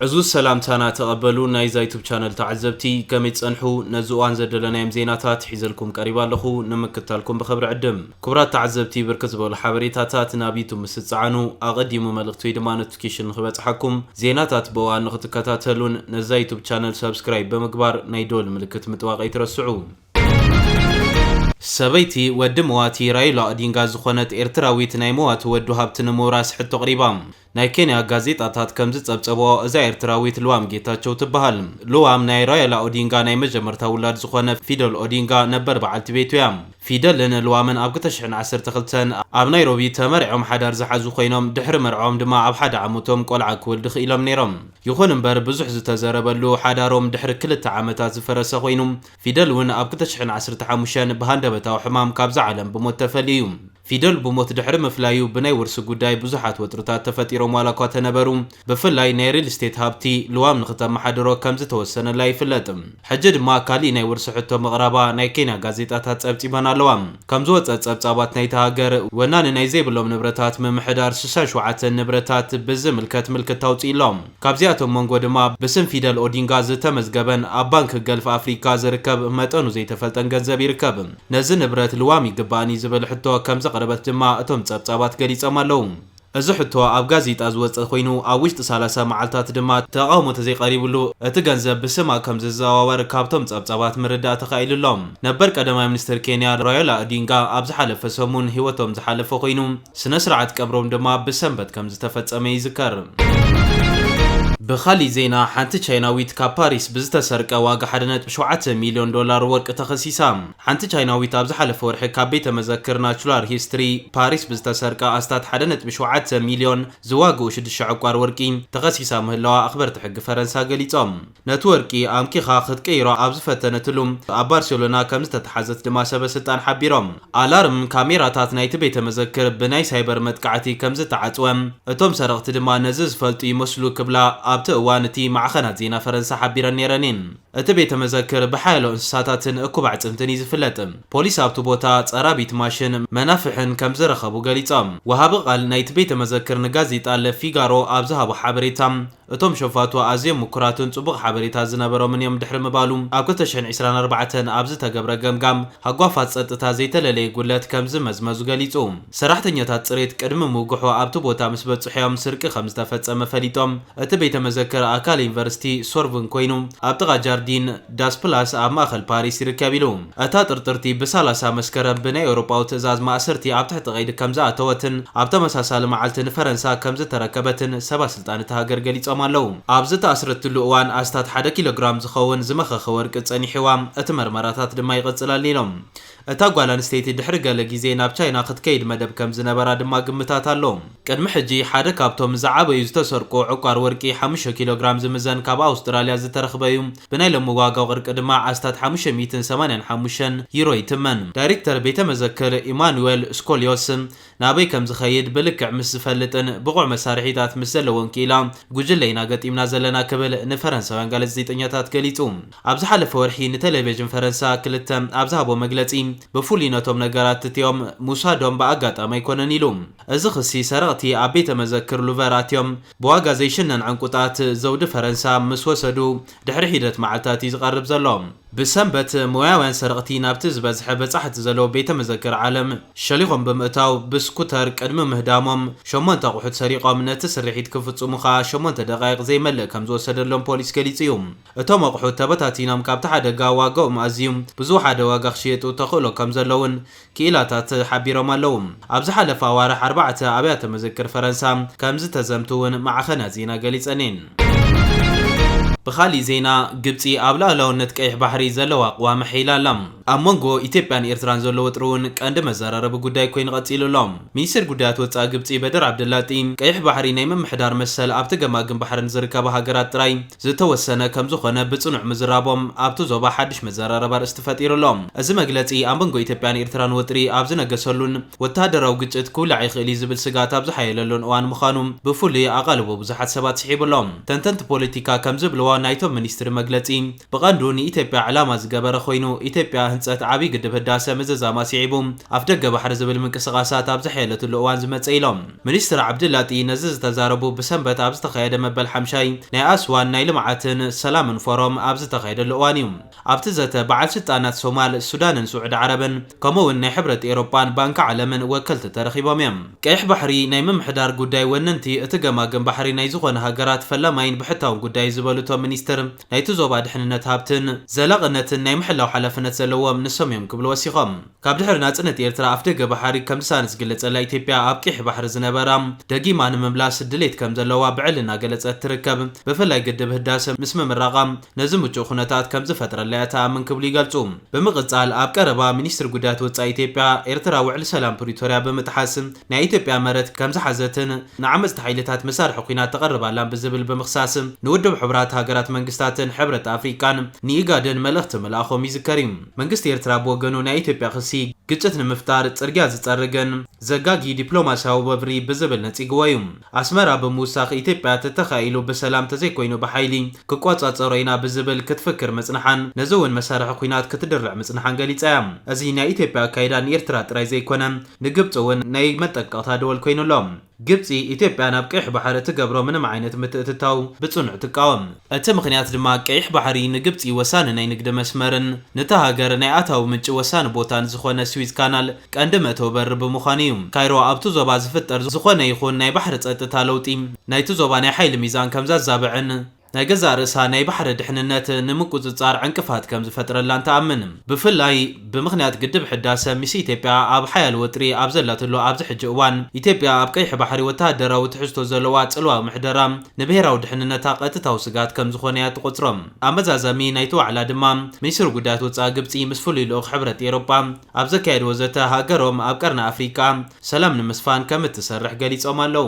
ዕዙዝ ሰላምታና ተቐበሉ ናይዛ ዩቱብ ቻነል ተዓዘብቲ ከመይ ትጸንሑ ነዚ እዋን ዘደለናዮም ዜናታት ሒዘልኩም ቀሪባ ኣለኹ ንምክታልኩም ብኸብሪ ዕድም ክቡራት ተዓዘብቲ ብርክት ዝበሉ ሓበሬታታት ናብ ዩቱብ ምስ ትጸዓኑ ኣቐዲሙ መልእኽቲ ወይ ድማ ኖቲፊኬሽን ንኽበጽሓኩም ዜናታት ብእዋን ንኽትከታተሉን ነዛ ዩቱብ ቻነል ሰብስክራይብ ብምግባር ናይ ደወል ምልክት ምጥዋቕ ኣይትረስዑ። ሰበይቲ ወዲ መዋቲ ራይላ ኦዲንጋ ዝኾነት ኤርትራዊት ናይ መዋቲ ወዱ ሃብቲ ንምውራስ ሕቶ ኣቕሪባ። ናይ ኬንያ ጋዜጣታት ከም ዝጸብጸብኦ እዛ ኤርትራዊት ልዋም ጌታቸው ትበሃል። ልዋም ናይ ራየላ ኦዲንጋ ናይ መጀመርታ ውላድ ዝኾነ ፊደል ኦዲንጋ ነበር በዓልቲ ቤቱ እያ። ፊደልን ልዋምን ኣብ ክልተ ሽሕን ዓሰርተ ክልተን ኣብ ናይሮቢ ተመርዕዮም ሓዳር ዝሓዙ ኮይኖም ድሕሪ መርዕኦም ድማ ኣብ ሓደ ዓመቶም ቆልዓ ክወልድ ክኢሎም ነይሮም። ይኹን እምበር ብዙሕ ዝተዘረበሉ ሓዳሮም ድሕሪ ክልተ ዓመታት ዝፈረሰ ኮይኑ ፊደል እውን ኣብ ክልተ ሽሕን ዓሰርተ ሓሙሽተን ብሃንደበታዊ ሕማም ካብዛ ዓለም ብሞት ተፈልዩ እዩ። ፊደል ብሞት ድሕሪ ምፍላዩ ብናይ ውርሲ ጉዳይ ብዙሓት ወጥርታት ተፈጢሮም ዋላኳ ተነበሩ ብፍላይ ናይ ሪል ስቴት ሃብቲ ልዋም ንክተመሓድሮ ከምዝተወሰነላ ይፍለጥ ሕጂ ድማ ካሊእ ናይ ውርሲ ሕቶ ምቕራባ ናይ ኬንያ ጋዜጣታት ጸብጺበን ኣለዋ ከምዝወጸ ጸብጻባት ናይታ ሃገር ወናኒ ናይ ዘይብሎም ንብረታት ምምሕዳር ስሳ ሸውዓተ ንብረታት ብዝምልከት ምልክታ ኣውጺኡ'ሎ። ካብዚኣቶም መንጎ ድማ ብስም ፊደል ኦዲንጋ ዝተመዝገበን ኣብ ባንኪ ገልፍ ኣፍሪካ ዝርከብ መጠኑ ዘይተፈልጠን ገንዘብ ይርከብ። ነዚ ንብረት ልዋም ይግበኣኒ ዝብል ሕቶ ከምዘቕረበት ድማ እቶም ፀብፃባት ገሊፆም ኣለው። እዚ ሕቶ ኣብ ጋዜጣ ዝወፀ ኮይኑ ኣብ ውሽጢ ሰላሳ መዓልታት ድማ ተቓውሞ ተዘይቀሪብሉ እቲ ገንዘብ ብስማ ከምዝዘዋወር ካብቶም ፀብፃባት ምርዳእ ተኻኢሉ ኣሎ። ነበር ቀዳማይ ሚኒስትር ኬንያ ራዮላ ኦዲንጋ ኣብ ዝሓለፈ ሰሙን ህይወቶም ዝሓለፈ ኮይኑ፣ ስነ ስርዓት ቀብሮም ድማ ብሰንበት ከም ዝተፈጸመ ይዝከር። ብኻሊእ ዜና ሓንቲ ቻይናዊት ካብ ፓሪስ ብዝተሰርቀ ዋጋ ሓደ ነጥቢ ሸውዓተ ሚልዮን ዶላር ወርቂ ተኸሲሳ። ሓንቲ ቻይናዊት ኣብ ዝሓለፈ ወርሒ ካብ ቤተ መዘክር ናቹላር ሂስትሪ ፓሪስ ብዝተሰርቀ ኣስታት ሓደ ነጥቢ ሸውዓተ ሚልዮን ዝዋግኡ ሽዱሽተ ዕቋር ወርቂ ተኸሲሳ ምህላዋ ኣኽበርቲ ሕጊ ፈረንሳ ገሊጾም። ነቲ ወርቂ ኣምኪኻ ክትቅይሮ ኣብ ዝፈተነትሉ፣ ኣብ ባርሴሎና ከም ዝተትሓዘት ድማ ሰበስልጣን ሓቢሮም። ኣላርም ካሜራታት ናይቲ ቤተ መዘክር ብናይ ሳይበር መጥቃዕቲ ከም ዝተዓጽወ፣ እቶም ሰረቕቲ ድማ ነዚ ዝፈልጡ ይመስሉ ክብላ ኣብቲ እዋን እቲ ማዕኸናት ዜና ፈረንሳ ሓቢረን ነይረን እየን። እቲ ቤተ መዘክር ብሓያሎ እንስሳታትን እኩብ ኣዕጽምትን እዩ ዝፍለጥ። ፖሊስ ኣብቲ ቦታ ጸራቢት ማሽን፣ መናፍሕን ከም ዝረኸቡ ገሊጾም። ወሃቢ ቃል ናይቲ ቤተ መዘክር ንጋዜጣ ለ ፊጋሮ ኣብ ዝሃቦ ሓበሬታ፣ እቶም ሸፋቱ ኣዝዮም ምኩራትን ጽቡቕ ሓበሬታ ዝነበሮምን እዮም ድሕሪ ምባሉ፣ ኣብ ክልተ ሽሕን ዕስራን ኣርባዕተን ኣብ ዝተገብረ ገምጋም፣ ሃጓፋት ጸጥታ ዘይተለለየ ጉድለት ከምዝመዝመዙ ገሊጹ። ሰራሕተኛታት ጽሬት ቅድሚ ምውግሖ ኣብቲ ቦታ ምስ በጽሑ እዮም ስርቂ ከምዝተፈጸመ ፈሊጦም። እቲ ቤተ መዘክር ኣካል ዩኒቨርሲቲ ሶርቡን ኮይኑ፣ ኣብ ጥቓ ጃርዲን ዳስ ፕላስ ኣብ ማእከል ፓሪስ ይርከብ ኢሉ። እታ ጥርጥርቲ ብ ሰላሳ መስከረም ብናይ ኤውሮጳዊ ትእዛዝ ማእሰርቲ ኣብ ትሕቲ ቀይዲ ከምዝኣተወትን ኣብ ተመሳሳሊ መዓልቲ ንፈረንሳ ከምዝተረከበትን ሰባት ስልጣን እታ ሃገር ገሊጾም ኣለዉ። ኣብ ዝተኣስረትሉ እዋን ኣስታት ሓደ ኪሎግራም ዝኸውን ዝመኸኸ ወርቂ ጸኒሕዋ፣ እቲ መርመራታት ድማ ይቕጽል ኣሎ ኢሎም። እታ ጓል ኣንስተይቲ ድሕሪ ገለ ግዜ ናብ ቻይና ክትከይድ መደብ ከም ዝነበራ ድማ ግምታት ኣሎ። ቅድሚ ሕጂ ሓደ ካብቶም ዝዓበዩ ዝተሰርቁ ዕቋር ወርቂ ሓሙሽተ ኪሎግራም ዝምዘን ካብ ኣውስትራልያ ዝተረኽበ'ዩ፣ ብናይ ሎሚ ዋጋ ወርቂ ድማ ኣስታት ሓሙሽተ ሚእትን ሰማንያን ሓሙሽተን ዩሮ ይትመን። ዳይረክተር ቤተ መዘክር ኢማኑዌል ስኮልዮስ ናበይ ከም ዝኸይድ ብልክዕ ምስ ዝፈልጥን ብቑዕ መሳርሒታት ምስ ዘለዎን ክኢላ ጉጅለ ኢና ገጢምና ዘለና ክብል ንፈረንሳውያን ጋለዘዜጠኛታት ገሊጹ። ኣብ ዝሓለፈ ወርሒ ንተለቬዥን ፈረንሳ ክልተ ኣብ ዝሃቦ መግለጺ ብፍሉይ ነቶም ነገራት እቲኦም ምውሳዶም ብኣጋጣሚ ኣይኮነን ኢሉ። እዚ ክሲ ሰረቕቲ ኣብ ቤተ መዘክር ሉቨር ኣትዮም ብዋጋ ዘይሽነን ዕንቊታት ዘውዲ ፈረንሳ ምስ ወሰዱ ድሕሪ ሒደት መዓልታት እዩ ዝቐርብ ዘሎ። ብሰንበት ሞያውያን ሰረቕቲ ናብቲ ዝበዝሐ በጻሕቲ ዘለዎ ቤተ መዘክር ዓለም ሸሊኾም ብምእታው ብስኩተር ቅድሚ ምህዳሞም ሸሞንተ ኣቑሑት ሰሪቖም ነቲ ስርሒት ክፍጽሙ ከኣ ሸሞንተ ደቓይቕ ዘይመልእ ከም ዝወሰደሎም ፖሊስ ገሊጹ እዩ። እቶም ኣቑሑት ተበታቲኖም ካብቲ ሓደጋ ዋጋኦም ኣዝዩ ብዝወሓደ ዋጋ ክሽየጡ ተኽእሎ ከም ዘሎ'ውን ክኢላታት ሓቢሮም ኣለዉ። ኣብ ዝሓለፈ ኣዋርሕ ኣርባዕተ ኣብያተ መዘክር ፈረንሳ ከም ዝተዘምቱ እውን ማዕኸናት ዜና ገሊጸን እየን። ብኻሊእ ዜና ግብጺ ኣብ ልኣላውነት ቀይሕ ባሕሪ ዘለዋ ኣቕዋም ኣሐይላ ኣላ። ኣብ መንጎ ኢትዮጵያን ኤርትራን ዘሎ ወጥሪ እውን ቀንዲ መዘራረቢ ጉዳይ ኮይኑ ቀጺሉ ኣሎ። ሚኒስተር ጉዳያት ወጻኢ ግብጺ በድር ዓብደላጢ፣ ቀይሕ ባሕሪ ናይ ምምሕዳር መሰል ኣብቲ ገማግም ባሕሪ ንዝርከባ ሃገራት ጥራይ ዝተወሰነ ከምዝኾነ ብጽኑዕ ምዝራቦም ኣብቲ ዞባ ሓድሽ መዘራረቢ ኣርእስቲ ፈጢሩ ኣሎ። እዚ መግለጺ ኣብ መንጎ ኢትዮጵያን ኤርትራን ወጥሪ ኣብ ዝነገሰሉን ወተሃደራዊ ግጭት ክውላዕ ይኽእል እዩ ዝብል ስግኣት ኣብ ዝሓየለሉን እዋን ምዃኑ ብፍሉይ ኣቓልቦ ብዙሓት ሰባት ስሒቡ ኣሎ። ተንተንቲ ፖለቲካ ከምዝብልዎ ናይቶም ሚኒስትሪ መግለጺ ብቐንዱ ንኢትዮጵያ ዕላማ ዝገበረ ኮይኑ ኢትዮጵያ ህንጸት ዓብዪ ግድብ ህዳሰ ምዝዛማ ስዒቡ ኣፍደገ ባሕሪ ዝብል ምንቅስቓሳት ኣብ ዝሓየለትሉ እዋን ዝመጸ እዩ ኢሎም። ሚኒስትር ዓብዲላጢ ነዚ ዝተዛረቡ ብሰንበት ኣብ ዝተኻየደ መበል ሓምሻይ ናይ ኣስዋን ናይ ልምዓትን ሰላምን ፎረም ኣብ ዝተኻየደሉ እዋን እዩ። ኣብቲ ዘተ በዓል ስልጣናት ሶማል፣ ሱዳንን ስዑዲ ዓረብን ከምኡ'ውን ናይ ሕብረት ኤሮጳን ባንኪ ዓለምን ወከልቲ ተረኺቦም እዮም። ቀይሕ ባሕሪ ናይ ምምሕዳር ጉዳይ ወነንቲ እቲ ገማግም ባሕሪ ናይ ዝኾነ ሃገራት ፈላማይን ብሕታውን ጉዳይ እዩ ዝበሉ እቶም ሚኒስትር ናይቲ ዞባ ድሕንነት ሃብትን ዘላቕነትን ናይ ምሕላው ሓላፍነት ዘለዎም ንሶም እዮም ክብሉ ወሲኾም። ካብ ድሕሪ ናጽነት ኤርትራ ኣፍደገ ባሕሪ ከም ዝሳነ ዝግለጸላ ኢትዮጵያ ኣብ ቂሕ ባሕሪ ዝነበራ ደጊማ ንምምላስ ድሌት ከም ዘለዋ ብዕሊ እናገለጸት ትርከብ። ብፍላይ ግድብ ህዳሰ ምስ ምምራቓ ነዚ ምቹእ ኩነታት ከም ዝፈጥረላ እያ ትኣምን ክብሉ ይገልጹ። ብምቕጻል ኣብ ቀረባ ሚኒስትሪ ጉዳያት ወጻኢ ኢትዮጵያ ኤርትራ ውዕሊ ሰላም ፕሪቶርያ ብምጥሓስ ናይ ኢትዮጵያ መረት ከም ዝሓዘትን ንዓመጽቲ ሓይልታት መሳርሒ ኲናት ተቕርብ ኣላን ብዝብል ብምኽሳስ ንውድብ ሕቡራት ሃገራት መንግስታትን ሕብረት ኣፍሪቃን ንኢጋድን መልእኽቲ ምልኣኾም ይዝከር እዩ። መንግስቲ ኤርትራ ብወገኑ ናይ ኢትዮጵያ ክሲ ግጭት ንምፍጣር ጽርግያ ዝጸርግን ዘጋጊ ዲፕሎማስያዊ ወፍሪ ብዝብል ነጺግዎ እዩ። ኣስመራ ብምውሳኽ ኢትዮጵያ ተተኻኢሉ ብሰላም ተዘይኮይኑ ብሓይሊ ክቆጻጸሮ ኢና ብዝብል ክትፍክር ምጽንሓን ነዚ እውን መሳርሒ ኩናት ክትድርዕ ምጽንሓን ገሊጻ እያ። እዚ ናይ ኢትዮጵያ ኣካይዳ ንኤርትራ ጥራይ ዘይኮነ ንግብጺ እውን ናይ መጠንቀቕታ ደወል ኮይኑ ኣሎ። ግብጺ፣ ኢትዮጵያ ናብ ቀይሕ ባሕሪ እትገብሮ ምንም ዓይነት ምትእትታው ብጽኑዕ ትቃወም። እቲ ምኽንያት ድማ ቀይሕ ባሕሪ ንግብጺ ወሳኒ ናይ ንግዲ መስመርን ንታ ሃገር ናይ ኣታዊ ምንጪ ወሳኒ ቦታን ዝኾነ ስዊዝ ካናል ቀንዲ መእተዊ በሪ ብምዃኑ እዩ። ካይሮ ኣብቲ ዞባ ዝፍጠር ዝኾነ ይኹን ናይ ባሕሪ ጸጥታ ለውጢ ናይቲ ዞባ ናይ ሓይሊ ሚዛን ከምዘዛብዕን፣ ናይ ገዛእ ርእሳ ናይ ባሕሪ ድሕንነት ንምቁጽጻር ዕንቅፋት ከም ዝፈጥረላን ትኣምን። ብፍላይ ብምኽንያት ግድብ ሕዳሰ ምስ ኢትዮጵያ ኣብ ሓያል ወጥሪ ኣብ ዘላትሉ ኣብዚ ሕጂ እዋን፣ ኢትዮጵያ ኣብ ቀይሕ ባሕሪ ወተሃደራዊ ትሕዝቶ ዘለዋ ጽልዋዊ ምሕደራ ንብሄራዊ ድሕንነታ ቀጥታዊ ስግኣት ከም ዝኾነ እያ እትቖጽሮ። ኣመዛዛሚ ናይቲ ዋዕላ ድማ ሚኒስትሪ ጉዳያት ወጻኢ ግብጺ ምስ ፍሉይ ልኡኽ ሕብረት ኤሮጳ ኣብ ዘካየድዎ ዘተ ሃገሮም ኣብ ቀርኒ ኣፍሪቃ ሰላም ንምስፋን ከም እትሰርሕ ገሊፆም ኣለው።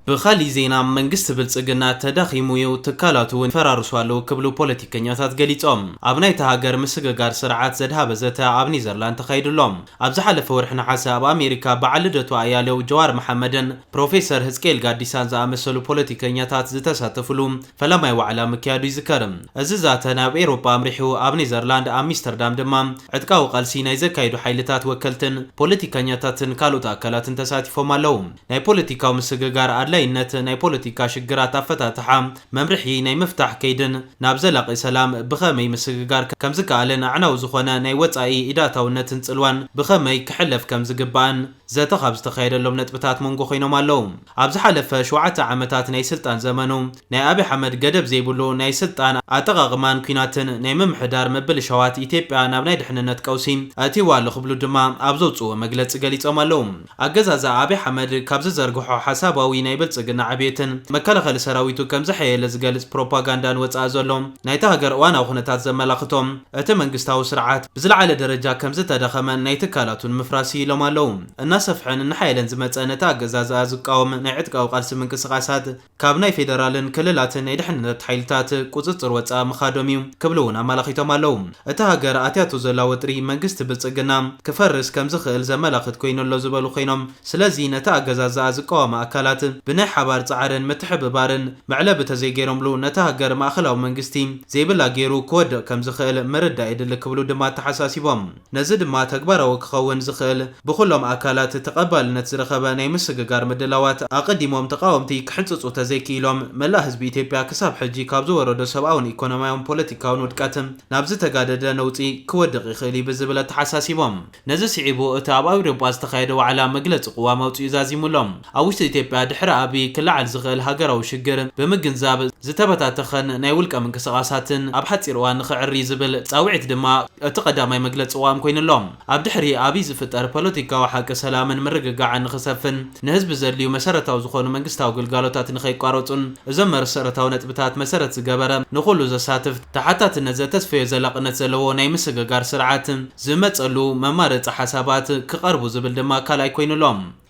ብኻሊእ ዜና መንግስቲ ብልፅግና ተዳኺሙ ዩ፣ ትካላቱ ውን ይፈራርሱ ኣለው ክብሉ ፖለቲከኛታት ገሊፆም። ኣብ ናይታ ሃገር ምስግጋር ስርዓት ዘድሃበ ዘተ ኣብ ኔዘርላንድ ተኻይዱ ኣሎ። ኣብ ዝሓለፈ ወርሒ ነሓሰ ኣብ ኣሜሪካ በዓል ልደቱ ኣያሌው፣ ጀዋር መሓመድን ፕሮፌሰር ህዝቅኤል ጋዲሳን ዝኣመሰሉ ፖለቲከኛታት ዝተሳተፍሉ ፈላማይ ዋዕላ ምክያዱ ይዝከር። እዚ ዛተ ናብ ኤውሮጳ ኣምሪሑ፣ ኣብ ኔዘርላንድ ኣሚስተርዳም ድማ ዕጥቃዊ ቃልሲ ናይ ዘካይዱ ሓይልታት ወከልትን ፖለቲከኛታትን ካልኦት ኣካላትን ተሳቲፎም ኣለዉ። ናይ ፖለቲካዊ ምስግጋር ኣድላይነት፣ ናይ ፖለቲካ ሽግራት ኣፈታትሓ፣ መምርሒ ናይ ምፍታሕ ከይድን ናብ ዘላቒ ሰላም ብኸመይ ምስግጋር ከምዝከኣልን ኣዕናዊ ዝኾነ ናይ ወጻኢ ኢዳታውነትን ጽልዋን ብኸመይ ክሕለፍ ከምዝግባእን ዘተ ካብ ዝተኻየደሎም ነጥብታት መንጎ ኮይኖም ኣለው። ኣብ ዝሓለፈ ሸውዓተ ዓመታት ናይ ስልጣን ዘመኑ ናይ ኣብይ ኣሕመድ ገደብ ዘይብሉ ናይ ስልጣን ኣጠቓቕማን ኲናትን ናይ ምምሕዳር ምብልሻዋት ኢትዮጵያ ናብ ናይ ድሕንነት ቀውሲ ኣእትይዋ ኣሎ ክብሉ ድማ ኣብ ዘውፅእዎ መግለፂ ገሊፆም ኣለው። ኣገዛዝኣ ኣብይ ኣሕመድ ካብ ዝዘርግሖ ሓሳባዊ ናይ ብልፅግና ዕብየትን መከላኸሊ ሰራዊቱ ከምዘሐየለ ዝገልፅ ፕሮፓጋንዳን ወፃኢ ዘሎ ናይታ ሃገር እዋናዊ ኩነታት ዘመላኽቶ እቲ መንግስታዊ ስርዓት ብዝለዓለ ደረጃ ከምዝተዳኸመን ናይ ትካላቱ ንምፍራስ ይኢሎም ኣለዉ። እናሰፍሐን እናሓየለን ዝመፀ ነቲ ኣገዛዝኣ ዝቃወም ናይ ዕጥቃዊ ቃልሲ ምንቅስቓሳት ካብ ናይ ፌደራልን ክልላትን ናይ ድሕንነት ሓይልታት ቁፅፅር ወፃኢ ምኻዶም እዩ ክብሉ እውን ኣመላኺቶም ኣለዉ። እታ ሃገር ኣትያቶ ዘላ ወጥሪ መንግስቲ ብልፅግና ክፈርስ ከምዝኽእል ዘመላኽት ኮይኑ ኣሎ ዝበሉ ኮይኖም፣ ስለዚ ነቲ ኣገዛዝኣ ዝቃወማ ኣካላት ብናይ ሓባር ጻዕርን ምትሕብባርን መዕለቢ ተዘይገይሮምሉ ነታ ሃገር ማእኸላዊ መንግስቲ ዘይብላ ገይሩ ክወድቕ ከምዝኽእል ምርዳእ የድሊ ክብሉ ድማ ኣተሓሳሲቦም። ነዚ ድማ ተግባራዊ ክኸውን ዝኽእል ብኹሎም ኣካላት ተቐባልነት ዝረኸበ ናይ ምስግጋር ምድላዋት ኣቐዲሞም ተቓወምቲ ክሕንፅፁ ተዘይክኢሎም መላእ ህዝቢ ኢትዮጵያ ክሳብ ሕጂ ካብ ዝወረዶ ሰብኣውን ኢኮኖሚያውን ፖለቲካውን ውድቀት ናብ ዝተጋደደ ነውፂ ክወድቕ ይኽእል እዩ ብዝብል ኣተሓሳሲቦም። ነዚ ስዒቡ እቲ ኣብ ኣውሮጳ ዝተኻየደ ዋዕላ መግለጺ ቅዋም ኣውጺኡ ዛዚሙ ኣሎ። ኣብ ውሽጢ ኢትዮጵያ ድሕሪ ኣብይ ክለዓል ዝኽእል ሃገራዊ ሽግር ብምግንዛብ ዝተበታተኸን ናይ ውልቀ ምንቅስቓሳትን ኣብ ሓጺር እዋን ንኽዕሪ ዝብል ጻውዒት ድማ እቲ ቀዳማይ መግለጺ ቅዋም ኮይኑ ኣሎ። ኣብ ድሕሪ ኣብይ ዝፍጠር ፖለቲካዊ ሓቂ ሰላምን ምርግጋዕን ንኽሰፍን ንህዝቢ ዘድልዩ መሰረታዊ ዝኾኑ መንግስታዊ ግልጋሎታት ንኸይቋረጹን እዞም መርሰረታዊ ነጥብታት መሰረት ዝገበረ ንኹሉ ዘሳትፍ ተሓታትነት ዘተስፈዮ ዘላቕነት ዘለዎ ናይ ምስግጋር ስርዓት ዝመጸሉ መማረጺ ሓሳባት ክቐርቡ ዝብል ድማ ካልኣይ ኮይኑ ኣሎ።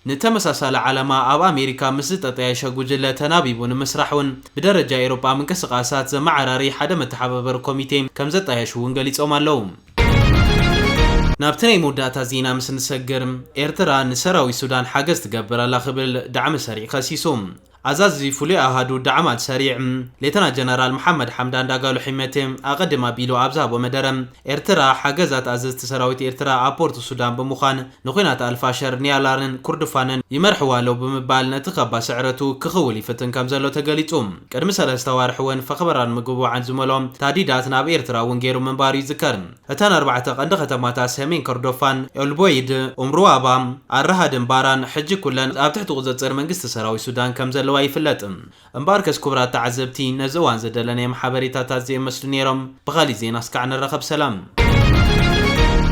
ንተመሳሳሊ ዓላማ ኣብ ኣሜሪካ ምስ ዝጠጠያየሸ ጉጅለ ተናቢቡ ንምስራሕ ውን ብደረጃ ኤሮጳ ምንቅስቓሳት ዘመዓራሪ ሓደ መተሓባበሪ ኮሚቴ ከም ዘጣየሹ ውን ገሊጾም ኣለዉ። ናብቲ ናይ መወዳእታ ዜና ምስ ንሰግር፣ ኤርትራ ንሰራዊት ሱዳን ሓገዝ ትገብር ኣላ ክብል ዳዕመ-ሰሪዕ ከሲሱ። ኣዛዚ ፍሉይ ኣሃዱ ዳዕማል ሰሪዕ ሌተና ጀነራል መሓመድ ሓምዳን ዳጋሎ ሒመቴ ኣቐድም ኣቢሉ ኣብ ዝሃቦ መደረ፣ ኤርትራ ሓገዛት ኣዘዝቲ ሰራዊት ኤርትራ ኣብ ፖርት ሱዳን ብምዃን ንኩናት ኣልፋሸር፣ ኒያላርን ኩርዱፋንን ይመርሕዋ ኣለው ብምባል ነቲ ካባ ስዕረቱ ክኽውል ይፍትን ከምዘሎ ተገሊጹ። ቅድሚ ሰለስተ ኣዋርሕ'ውን ፈኽበራን ምጉብባዕን ዝመልኦ ታህዲዳት ናብ ኤርትራ'ውን ገይሩ ምንባሩ ይዝከር። እተን ኣርባዕተ ቀንዲ ከተማታት ሰሜን ከርዶፋን፣ ኤልቦይድ፣ ኡምሩዋባ፣ ኣልራሃድን ባራን ሕጂ ኩለን ኣብ ትሕቲ ቁጽጽር መንግስቲ ሰራዊት ሱዳን ከም ዘለዋ ይፍለጥ። እምበኣርከስ ክቡራት ተዓዘብቲ ነዚ እዋን ዝደለናዮም ሓበሬታታት እዚኦም ይመስሉ ነይሮም። ብኻሊእ ዜና እስካዕ ንራኸብ ሰላም።